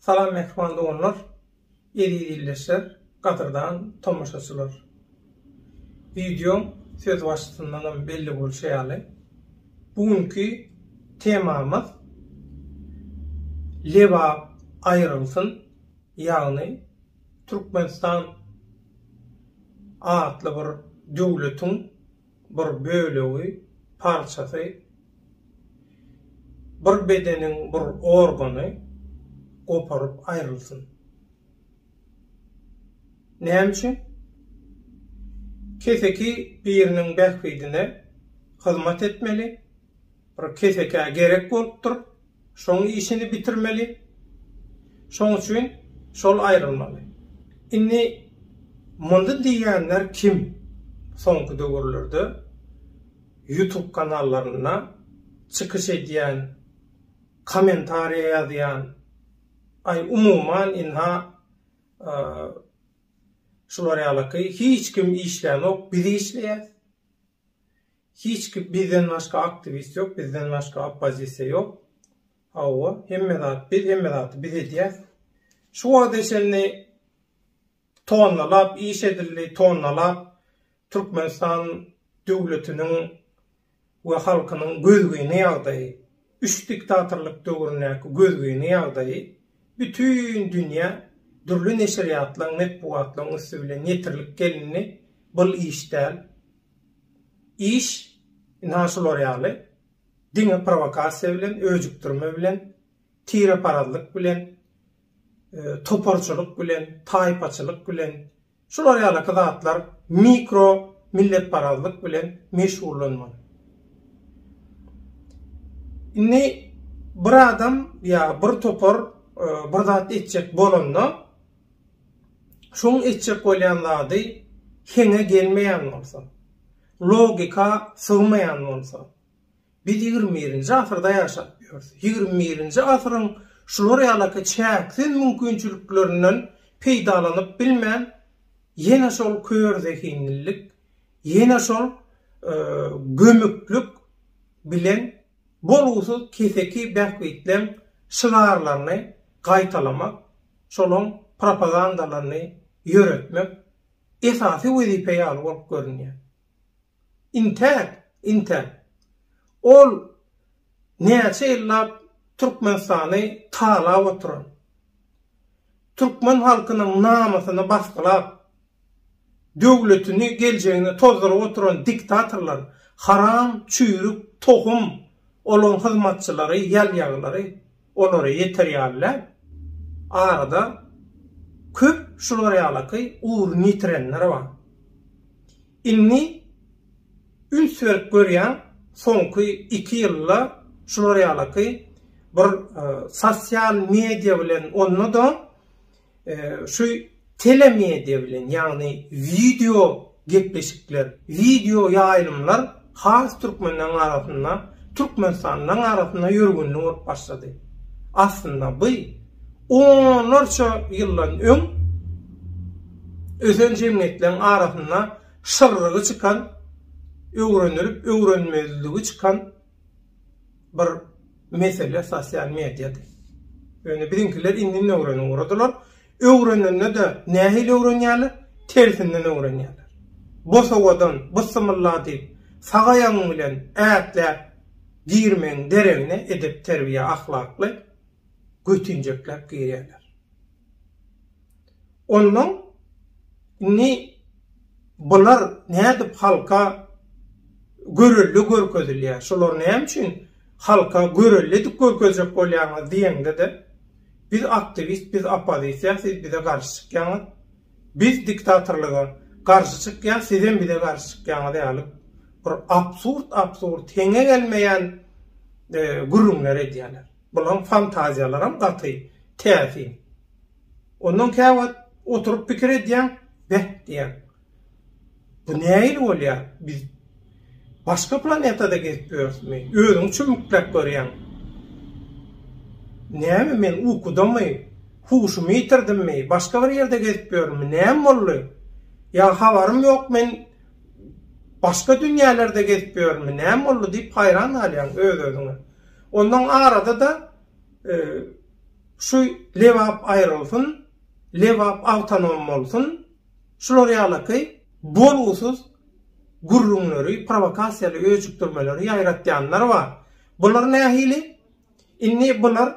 Salam mähriban doganlar, eziz ildeşler, gadyrdan tomaşaçylar! Wideoň sözbaşysyndanam belli bolşy ýaly, bu günki temamyz Lebap aýrylsyn, ýagny Türkmenistan atly bir döwletiň bir bölegi, parçasy, bir bedeniň bir organy goparyp aýrylsyn. Näme üçin? Keseki biriniň bähbidine hyzmat etmeli, Bir kesekä gerek bolupdyr, şoň işini bitirmeli. Şoň üçin şol aýrylmaly. Indi mundy diýýänler kim? Soňky döwürlerde ýutub kanallarynda çykyş edýän, kommentariýa ýazýan, aý umuman ynha şular ýalaky hiç kim işlänok, biz işleýäs. Hiç kim bizden başga aktiwist ýok bizden başga oppozisiýa ýok hawa hemme zat biz hemme zaty biz edýäs şu wagta çenli tonnalap iş edildi tonnalap Türkmenistan döwletiniň we halkynyň gözgyny ýagdaýy Üç diktatorlyk döwründäki gözgyny ýagdaýy bütin dünýä dürli neşirýatlaň, metbugatlaň üsti bilen ýetirilip gelindi, bul iş däl. Iş ynha şular ýaly, diňe prowokasiýa bilen, öjükdirme bilen, tireparazlyk bilen, toparçylyk bilen, taýpaçylyk bilen, Şular ýalyky zatlar mikro milletparazlyk bilen meşgullanmaly. Indi bir adam ýa bir topar bir zat etjek bolanda, şoň etjek bolýan zady heňe gelmeýän bolsa, logika sygmaýan bolsa, Biz ýigrimi birinji asyrda ýaşap ýörüs. Ýigrimi birinji asyryň şular ýalaky çäksiz mümkinçiliklerinden peýdalanyp bilmän, ýene şol kör zehinlilik, ýene şol gömüklik bilen bolgusyz keseki bähbitleň şygarlaryny gaýtalamak, şolaň propagandalaryny ýöretmek esasy wezipe ýaly bolup görünýär. Intäk, intäk. Ol näçe ýyllap Türkmenistany talap oturan, türkmen halkynyň namysyny basgylap, döwletini, geljegini tozduryp oturan diktatorlar, haram, çüýrük, tohum, olaryň hyzmatçylary, ýalýaglary. Olara ýeter ýaly däl. Arada köp şular ýalaky ugruny ýitirenler bar. Indi üns berip görýän soňky iki ýylda şular ýalaky bir sosial media bilen onda-da Şu telemediýa bilen, ýagny wideo gepleşikler, wideo ýaýlymlar has türkmenleriň arasynda, türkmenistanlylaryň arasynda ýörgünli bolup başlady. Aslynda bu onlarça ýyldan öň ösen jemgyýetleriň arasynda şyrrygy çykan, öwrenilip öwrenmezligi çykan bir mesele sosial mediýady. Ýöne biziňkiler indi öwreni ugradylar. Öwrenende-de nähili öwrenýärler? Tersinden öwrenýärler. Bosawadan bysymylla diýip, sag aýagyň bilen ätläp girmegiň deregine edep-terbiýe, ahlakly götinjekläp girýärler. Onnoň indi bular nädip halka görelde görkezilýär, şolary näme üçin halka görelde edip görkezjek bolýaňyz diýeňde-de, biz aktiwist, biz oppozisiýa, siz bize garşy çykýaňyz, biz diktatorlyga garşy çykýas, sizem bize garşy çykýaňyz ýaly bir absurd-absurd, heňe gelmeýän gürrüňler edýärler. Bulaň fantaziýalaram gaty täsin. Ondan käwagt oturyp pikir edýäň, beh diýýäň. Bu nähili bolýar? Biz başga planetada gezip ýörüsmi? Özüňi çümükläp görýäň. Näme men ukudamy? Huşumy ýitirdimmi? Başga bir ýerde gezip ýörünmi? Näme boldy? Ýa habarym ýok men başga dünýälerde gezip ýörünmi? Näme boldy diýip haýran galýaň öz-özüňe. Ondan arada-da şu Lebap aýrylsyn, Lebap awtonom bolsun, şular ýalaky bolgusyz gürrüňleri, prowokasiýaly öjükdirmeleri ýaýratýanlar bar. Bular nähili? Indi bular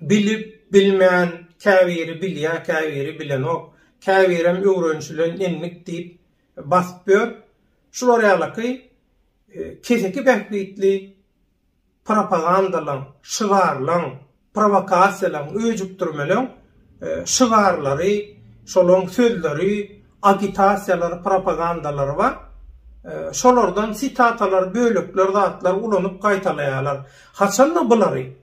bilip, bilmän, käbiri bilýär, käbiri bilenok, käbirem öwrenişilen endik diýip basyp ýör. Şular ýalaky keseki bähbitli propagandalaryň, şygarlaryň, prowokasiýalaryň, öjükdirmeleň şygarlary, şolaryň sözleri, agitasiýalary, propagandalary bar. Şolardan sitatalar, bölekler, zatlar ulanyp gaýtalaýarlar. Haçan-da bulary.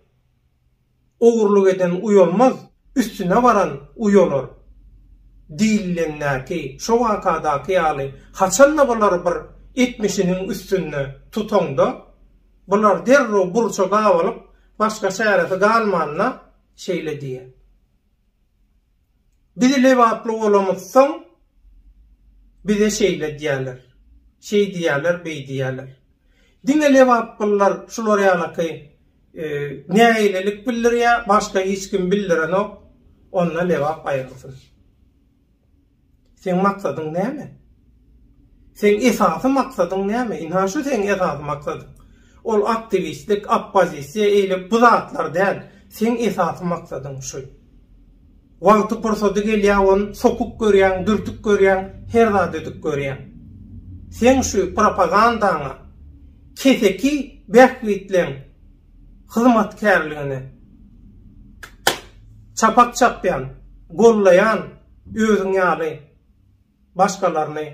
Ogurlyk eden uýalmaz, üstüne baran uýalar diýilendäki şo wakadaky ýaly haçan-da bular bir etmişiniň üstünde tutaňda, bular derrew burça gabalyp, başga çäresi galmanda şeýle diýer. Biz lebaply bolamyzsoň, bize şeýle edýärler, şeýdýärler, beýdýärler. Diňe lebaplylar şular ýalaky nägilelik bildirýär, başga hiç kim bildirenok, onda lebap aýrygsyn. Seň maksadyň näme? Seň esasy maksadyň näme? Ynha şu seň esasy maksadyň. Ol aktiwistlik, oppozisiýa eýlek bu zatlar däl. Seň esasy maksadyň şu. Wagty pursady gelýä on sokup görýäň, dürtüp görýäň, her zat edip görýäň. Seň şu propagandaňa keseki bähbitleň. hyzmatkärligini çapak çapýan, gollaýan özüň ýaly başgalaryny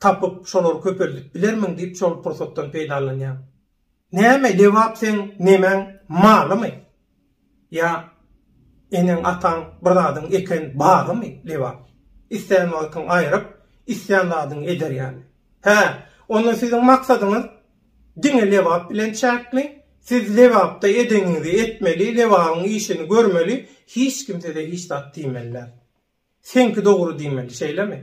tapyp, şolary köpeldip bilermiň diýip şol pursatdan peýdalanýan. Näme Lebap seň nemäň malymy? Ýa eneň ataň bir zadyň eken bagymy, Lebap? Islän wagtyň aýryp, islän zadyňy eder ýaly. Hä, onda siziň maksadyňyz diňe Lebap bilen çäkli. Siz Lebapda edeniňizi etmeli, Lebabyň işini görmeli, hiç kim size hiç zat diýmeli däl. Seňki dogry diýmeli, şeýlemi?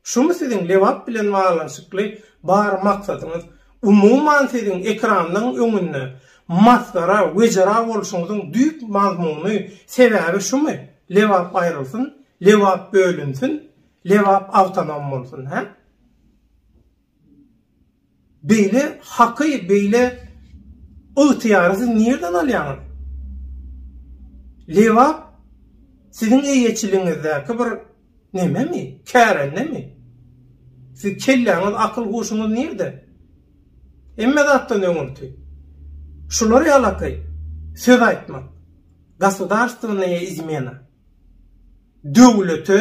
Şumy siziň Lebap bilen baglanyşykly bar maksadyňyz? Umuman siziň ekranlaň öňünde masgara, wejera bolşuňyzyň düýp mazmuny, sebäbi şumy? Lebap aýrylsyn, Lebap bölünsin, Lebap awtonom bolsun, hä? Beýle haky, beýle ygtyýary siz nirden alýaňyz? Lebap siziň eýeçiligiňizdäki bir nememi, kärendemi? Siziň kelläňiz, akyl-huşuňyz nirde? Hemme zatdan öňürti, şular ýalaky söz aýtmak, gosudarstwonnaýa izmena. Döwlete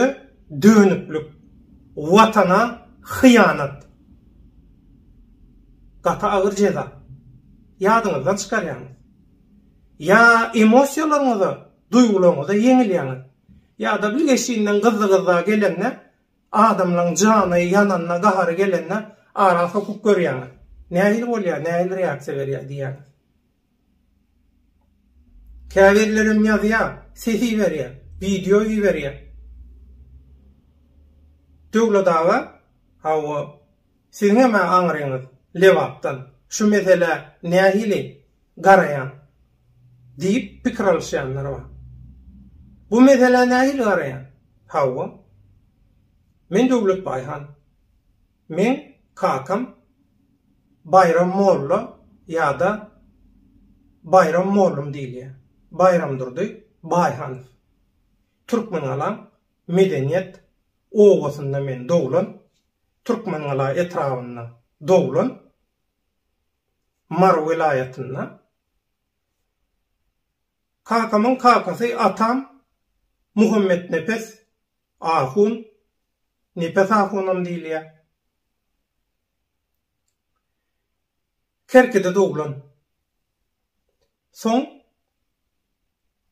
dönüklik, Watana hyýanat. Gaty agyr jeza. Ýadyňyzdan çykarýaňyz. Ýa emosiýalaryňyza, duýgularyňyza ýeňilýäňiz. Ýa-da bir geçinden gyzly-gyzla gelende, adamlaryň jany ýananda, gahary gelende ara sokup görýäňiz. Nähili bolýar, nähili reaksiýa berýär diýýäňiz. Käbirlerem ýazýar, ses iberýär, wideo iberýär. Döwlet aga, hawa, siziňem-ä aňryňyz Lebapdan, şu meselä nähili garaýaň? diýip pikir alyşýanlar bar. Bu meselä nähili garaýaň? Hawa, men Döwlet Baýhan. Meň kakam Baýram molla ýa-da Baýram mollum diýilýär. Baýramdurdy Baýhanow. Türkmengalaň Medeniýet obasynda men doglan, Türkmengala etrabynda doglan, Mary welaýatynda. Kakamyň kakasy atam Muhammetnepes ahun Nepes ahunam diýilýär. Kerkide doglan. Soň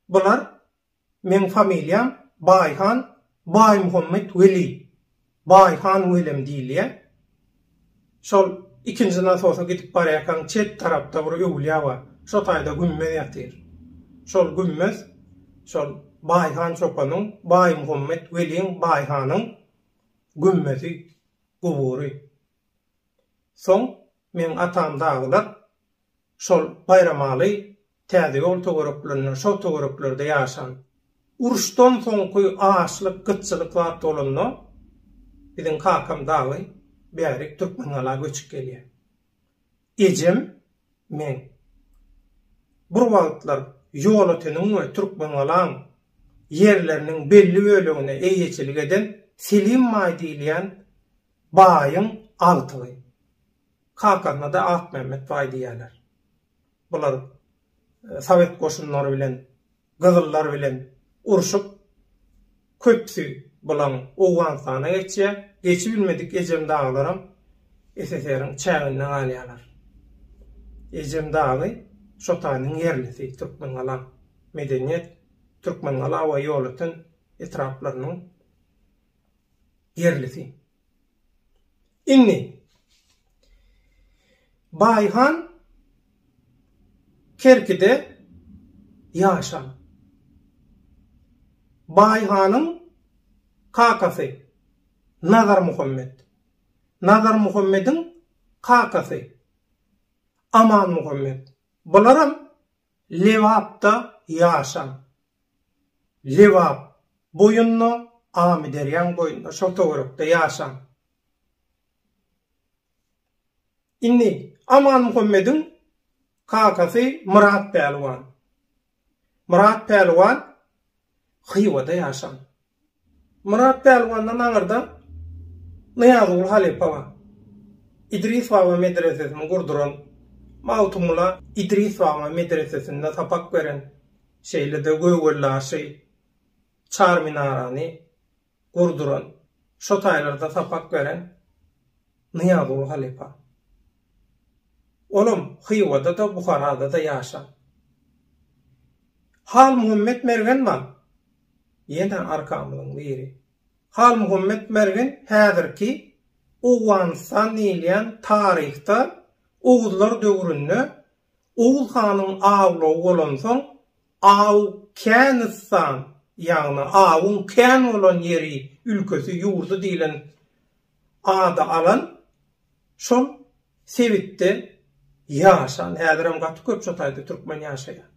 bular Meň familiýam Baýhan Baýmuhammet Weli, Baýhan Welem diýilýär. Şol ikinji nasosa gidip barýarkaň çep tarapda bir öwülýä bar. Şo taýda gümmez ýatyr. Şol gümmez şol Baýhan çopanyň, Baýmuhammet weliň Baýhanyň gümmezi, gubury. Soň meň atam dagylar şol Baýramaly Täze ýol töwereklerinde, şo töwereklerde ýaşan, uruşdan soňky açlyk, gytçylyk zat bolanda, biziň kakam dagy bärik Türkmengala göçüp gelýär. Ejem, meň. Bir wagtlar Ýolöteniň we Türkmengalaň ýerleriniň belli bölegine eýeçilik eden Selim baý diýilýän baýyň agtygy. Kakasyna-da Akmämmet baý diýýärler. Bular sowet goşunlary bilen, gyzyllar bilen urşup, köpüsi bulaň Owganystana geçýär. Geçibilmedik Ejem daglaram SSR-iň çäginde galýarlar. Ejem dagy Şotanyň ýerlisi, Türkmengala, Medeniýet, Türkmengala we Ýolöten etraplarynyň ýerlisi. Indi Baýhan Kerkide ýaşan. Baýhanyň kakasy Nazarmuhammet. Nazarmuhammediň kakasy Amanmuhammet. Bularam Lebapda ýaşan. Lebap boýunda, Amyderýaň boýunda, şol töwerekde ýaşan. Indi Aman Muhammediň kakasy Myrat Pälwan. Myrat Pälwan Hywada ýaşan. Myrat Pälwandan aňyrda Nyýazguly halypa bar. Idris baba medresesini gurduran, Magtymgula Idris baba medresesinde sapak beren, şeýle-de Göwgeldaşy, Çarminarany gurduran, şo taýlarda sapak beren Nyýazguly halypa. Olam Hywada-da, Buharada-da ýaşan. Halmuhammet Mergen bar. ýene arkamyzyň biri. Halmuhammet Mergen häzirki Owganystan diýilýän taryhda oguzlar döwründe Oguz hanyň awlagy bolansoň Aw känistan, ýagny awyň kän bolan ýeri, ülkesi, ýurdy diýlen ady alan şol sebitde ýaşan, häzirem gaty köp şu taýda türkmen ýaşaýar.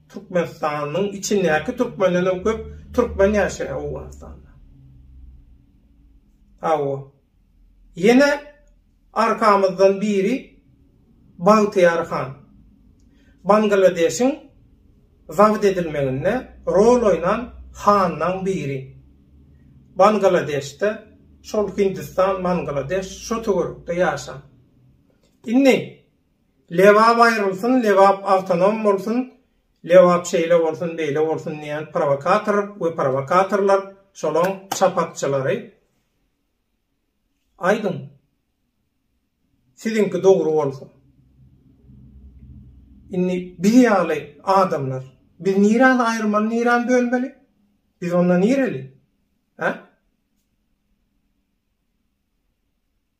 Türkmenistanyň içindäki türkmenlerden köp türkmen ýaşaýar Owganystanda. Hawa. Ýene arkamyzdan biri Bagtyýar han. Bangladeşiň zabit edilmeginde rol oýnan hanlaň biri. Bangladeşde şol Hindistan Bangladeş şo töwerekde ýaşan. Indi Lebap aýrylsyn Lebap awtonom bolsun Lebap şeýle bolsun beýle bolsun diýen prowokator we prowokatorlar şolaň çapakçylary aýdyň. Siziňki dogry bolsa. Indi biz ýaly adamlar, biz nirany aýyrmaly, nirany bölmeli? Biz onda nireli? Hä?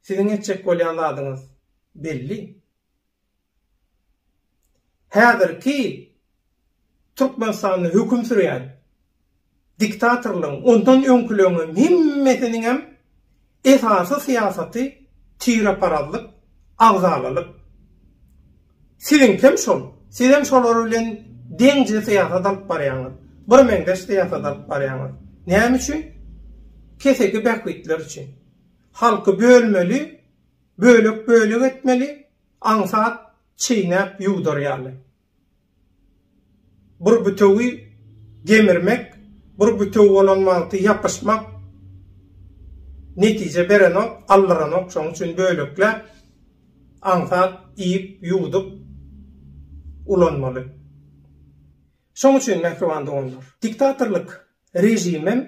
Siziň etjek bolýan zadyňyz belli. Häzirki Türkmenistanda höküm sürýän diktatorlaryň, ondan öňküleň hem hemmesiniňem esasy syýasaty tireparazlyk, agzalalyk. Siziňkem şol. Sizem şolar bilen deňje syýasat alyp barýaňyz. Birmeňzeş syýasat alyp barýaňyz. Näme üçin? Keseki bähbitler üçin. Halky bölmeli, bölek-bölek etmeli, Aňsat çeýnäp ýuwdar ýaly. Bir bütewi gemirmek, bir bütew bolan wagty ýapyşmak netije berenok, aldyranok, şonuň üçin bölekläp aňsat iýip, ýuwdup ulanmaly. Şoň üçin, mähriban doganlar, diktatorlyk režimem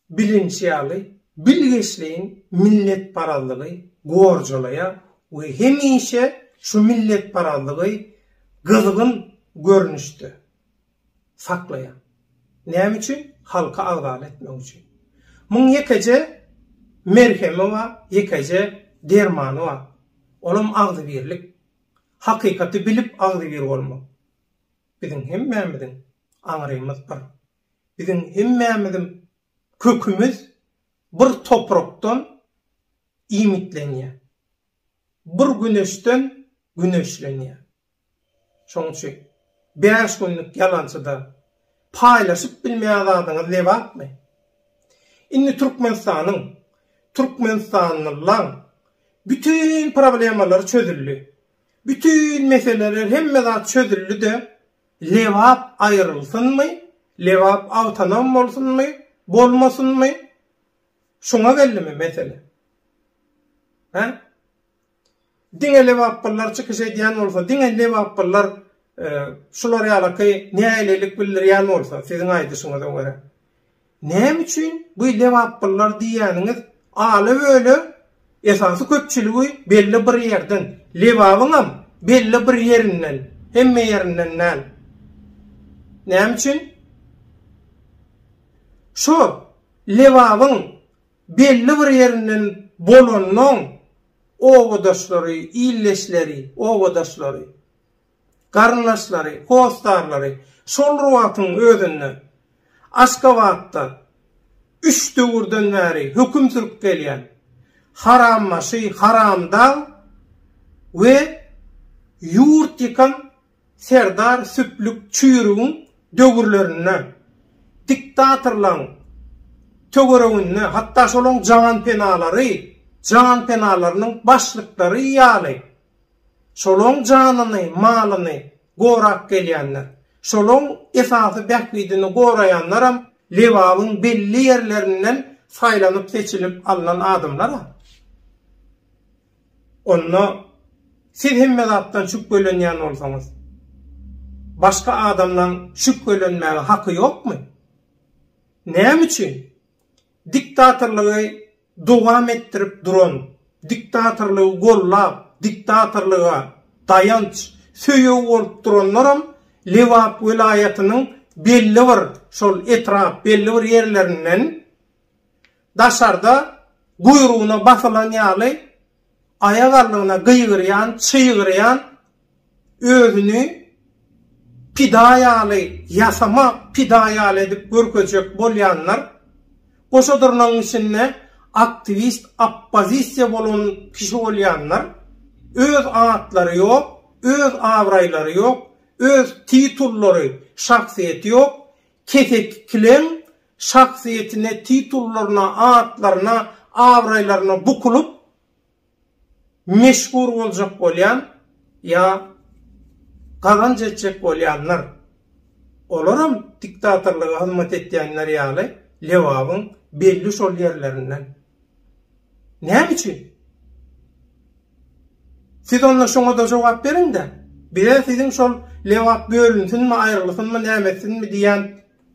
Bilinç ýaly, bilgeşleýin milletparazlygy gorjalaýar we hemişe şu milletparazlygy gyzgyn görnüşde saklaýar. Näme üçin? Halky agdar etmek üçin. Muň ýekeje merhemi bar, ýekeje dermany bar. Olam agzybirlik. Hakykaty bilip agzybir bolmak. Biziň hemmämiziň aňrymyz bir. Biziň hemmämizim kökümiz bir toprakdan iýmitlenýär. Bir güneşden güneşlenýär. Şoň üçin bäş günlük ýalançyda paýlaşyp bilmeýän zadyňyz lebapmy? Indi Türkmenistanyň, türkmenistanlylaň bütin problemalary çözüldi. Bütin meseleler hemme zat çözüldi-de Lebap aýrylsynmy, Lebap awtonom bolsunmy, bolmasynmy? Şuňa geldimi mesele? Hä? Diňe lebaplylar çykyş edýän bolsa, diňe lebaplylar şular ýalaky nälelik bildirýän bolsa, siziň aýdyşyňyza görä. Näme üçin bu lebapbyllar diýýäniňiz ala böleg esasy köpçüligi belli bir ýerden, lebabyňam belli bir ýerinden, hemme ýerinden däl. Näme üçin? Şo lebabyň belli bir ýerinden bolannoň obadaşlary, ildeşleri, obadaşlary, garyndaşlary, hossarlary şol wagtyň özünde Aşgabatda üç döwürden bäri höküm sürüp gelýän harambaşy Haramdag we ýurt ýykan serdar Süplük çüýrügiň döwürlerinde diktatorlaryň töwereginde, hatda şolaryň janpenalary, janpenalarynyň başlyklary ýaly Şolaň janyny, malyny gorap gelýänler, şolaň esasy bähbidini goraýanlaram Lebabyň belli ýerlerinden saýlanyp-seçilip alnan adamlar-a. Onda siz hemme zatdan şübhelenýän bolsaňyz, başga adamlaň şübhelenmäge haky ýokmy? Näme üçin diktatorlygy dowam etdirip duran diktatorlygy gollap, diktatorlyga daýanç, söýeg bolup duranlaram Lebap welaýatynyň belli bir şol etrap, belli bir ýerlerinden daşarda guýrugyna basylan ýaly Aýak aldygyna gygyrýan, çygyrýan, özüni pida ýaly, ýasama pida ýaly edip görkezjek bolýanlar, goşa durnagyň içinde aktiwist, oppozisiýa bolan kişi bolýanlar, öz atlary ýok, öz abraýlary ýok, öz titullary, şahsyýeti ýok, keseki kileň şahsyýetine, titullaryna, atlaryna, abraýlaryna bukulyp, meşhur boljak bolýan ýa gazanç etjek bolýanlar. Olaram diktatorlyga hyzmat etýänler ýaly Lebabyň belli şol ýerlerinden. Näme üçin? Siz onda şoňa-da jogap beriň-de. Bize siziň şol Lebap bölünsinmi, aýrylsynmy, näme etsinmi diýýän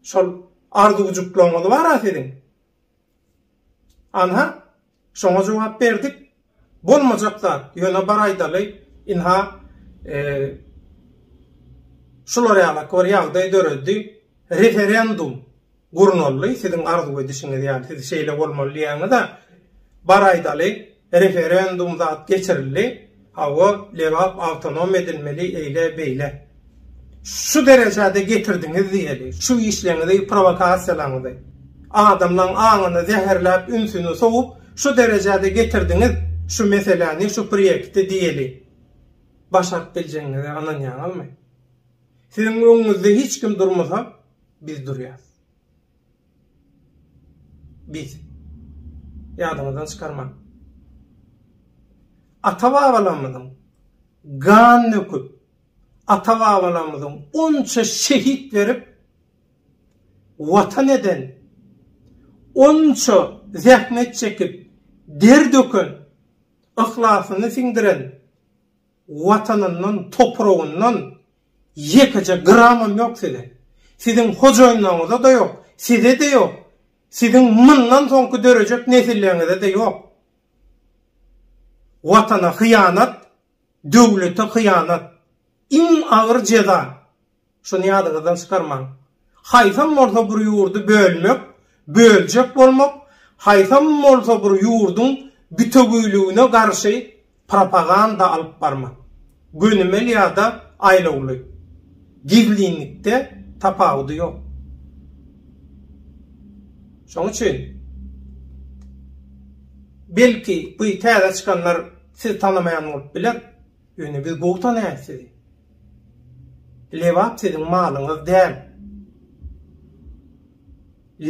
Şol arzuwjyklaryňyz bar-a siziň? Anha, şoňa jogap berdik. Bolmajak zat, ýöne bar aýdaly, ynha, şular ýalaky bir ýagdaý döredi, referendum gurnaldy, siziň arzuw edişiňiz ýaly, siz şeýle bolmaly diýýäňiz-ä, bar aýdaly, Referendum zat geçirildi, hawa Lebap awtonom edilmeli eýle beýle. Şu derejede getirdiňiz diýeli, şu işleňizi prowokasiýalaňyzy. Adamlaň aňyny zäherläp ünsüni sowup şu derejede getirdiňiz şu meseläni şu priýekti diýeli. Başaryp biljegiňize ynanýaňyzmy? Siziň öňüňizde hiç kim durmasa biz durýas. Biz. Ýadyňyzdan çykarmaň. Ata-babalarymyzyň gan döküp, ata-babalarymyzyň onça şehit berip Watan eden, onça zähmet çekip, der döken, yhlasyny siňdiren, Watanyndan, topragyndan ýekeje gramam ýok siziň. Siziň hojaýynlaryňyza-da ýok, size-de ýok, siziň mundan soňky dörejek nesilleriňize-de ýok. Watana hyýanat, döwlete hyýanat, iň agyr jeza. Şuny ýadyňyzdan çykarmaň. Haýsam bolsa bir ýurdy bölmek, böljek bolmak, haýsam bolsa bir ýurduň bütewiligine garşy propaganda alyp barmak. Gönümel ýa-da aýlawly. Gizlinlikde tapawudy ýok. Şoň üçin, belki, bu täze çykanlar sizi tanamaýan bolup biler, Ýöne biz gowy tanaýas sizi. Lebap siziň malyňyz däl.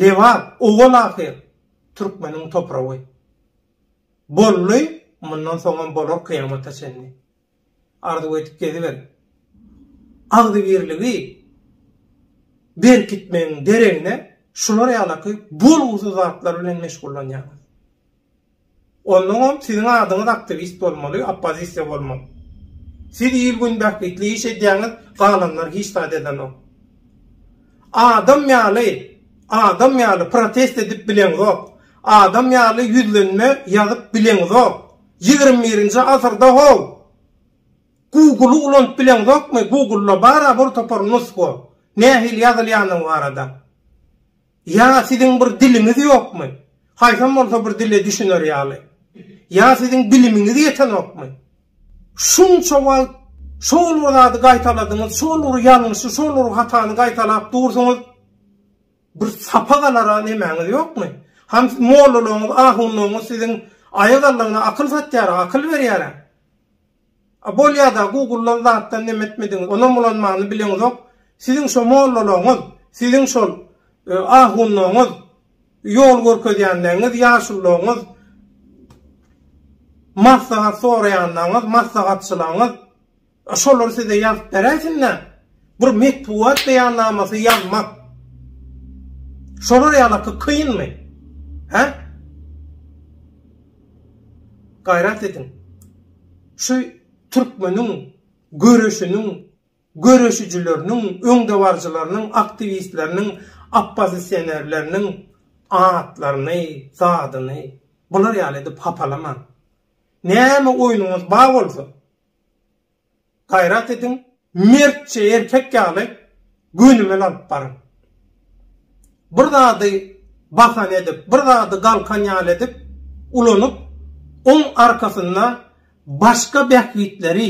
Lebap owal ahyr türkmeniň topragy. Boldy, mundan soňam bolar kyýamata çenli. Arzuw edip geziber. Agzybirligi berkitmegiň deregine şular ýalaky bolgusyz zatlar bilen meşgullanýaňyz. Onnoňam siziň adyňyz aktiwist bolmaly, oppozisiýa bolmaly. Siz il gün bähbitli iş edýäňiz, galanlar hiç zat edenok. Adam ýaly, adam ýaly protest edip bileňzok, adam ýaly ýüzlenme ýazyp bileňzok, ýigrimi birinji asyrda how! Google-y ulanyp bileňzokmy, Google-da bar-a bir topar nusga, nähili ýazylýandygy barada. Ýa siziň bir diliňiz ýokmy? Haýsam bolsa bir dile düşüner ýaly. Ýa siziň bilimiňiz ýetenokmy? Şunça wagt şol bir zady gaýtaladyňyz, şol bir ýalňyşy, şol bir hatany gaýtalap dursuňyz. Bir sapak alara nemäňiz ýokmy? Hany mollalaryňyz, ahunlaryňyz siziň aýak aldygyna akyl satýar, akyl berýär-ä. A bolýada gugullan zatdan nem etmediňiz onam ulanmany bileňizok siziň şo mollalaňyz siziň şol ahunlaňyz ýol görkezýänleňiz ýaşullaňyz maslahat soraýanlaňyz maslahatçylaňyz şolar size ýazyp beräýsinda bir metbugat beýannamasy ýazmak şolar ýalaky kynmy he. Gaýrat ediň. Şu türkmeniň göreşiniň göreşijileriniň, öňdebaryjylarynyň, aktiwistleriniň, oppozisionerleriniň atlaryny, zadyny bular ýaly edip hapalamaň. Näme oýnuňyz bar bolsa, Gaýrat ediň, mertçe erkek ýaly gönümel alyp baryň. Bir zady basan edip, bir zady galkan ýaly edip ulanyp, oň arkasynda başga bähbitleri,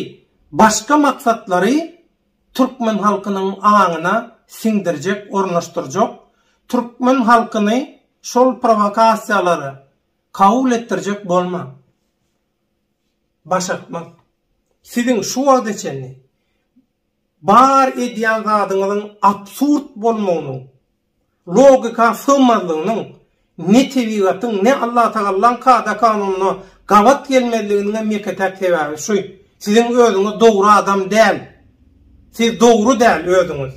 başga maksatlary türkmen halkynyň aňyna siňdirjek, ornaşdyrjak, türkmen halkyny şol prowokasiýalary kabul etdirjek bolmaň. başartmaz. Siziň şu wagta çenli bar edýän zadyňyzyň absurd bolmagynyň, logika sygmazlygynyň, ne tebigatyň, ne Allatagallan kada-kanunyna gabat gelmezliginiňem ýeke-täk sebäbi şu, siziň özüňiz dogry adam däl. Siz dogry däl özüňiz.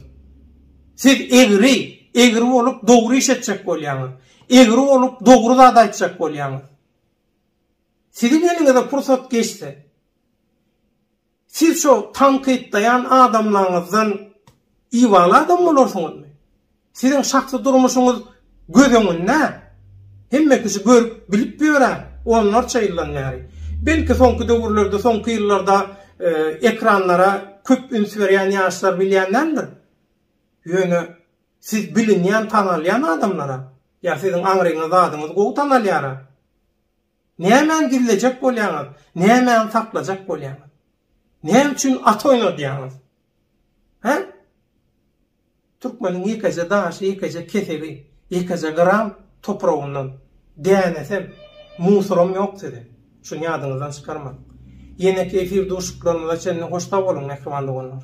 Siz egri, egri bolup dogry iş etjek bolýaňyz. Egri bolup dogry zat aýtjak bolýaňyz. Siziň eliňize pursat geçse, siz şo tankytlaýan adamlaryňyzdan ibaly adam bolarsyňyzmy? Siziň şahsy durmuşyňyz göz öňünde, hemme kişi görüp, bilip ýörä, onlarça ýyldan bäri. Belki, soňky döwürlerde, soňky ýyllarda ekranlara köp üns berýän ýaşlar bilýän däldir. Ýöne siz bilinýän, tanalýan adamlar-a. Ýa siziň aňryňyz, adyňyz gowy tanalýar-a. Nämäni gizlejek bolýaňyz? Nämäni saklajak bolýaňyz? Näme üçin at oýnadýaňyz? Hä? Türkmeniň ýekeje daşy, ýekeje kesegi, ýekeje gram topragyndan dänesem, musoram ýok siziň. Şuny ýadyňyzdan çykarmaň. Ýeneki efir duşuklarymyza çenli hoş sag boluň, mähriban doganlar!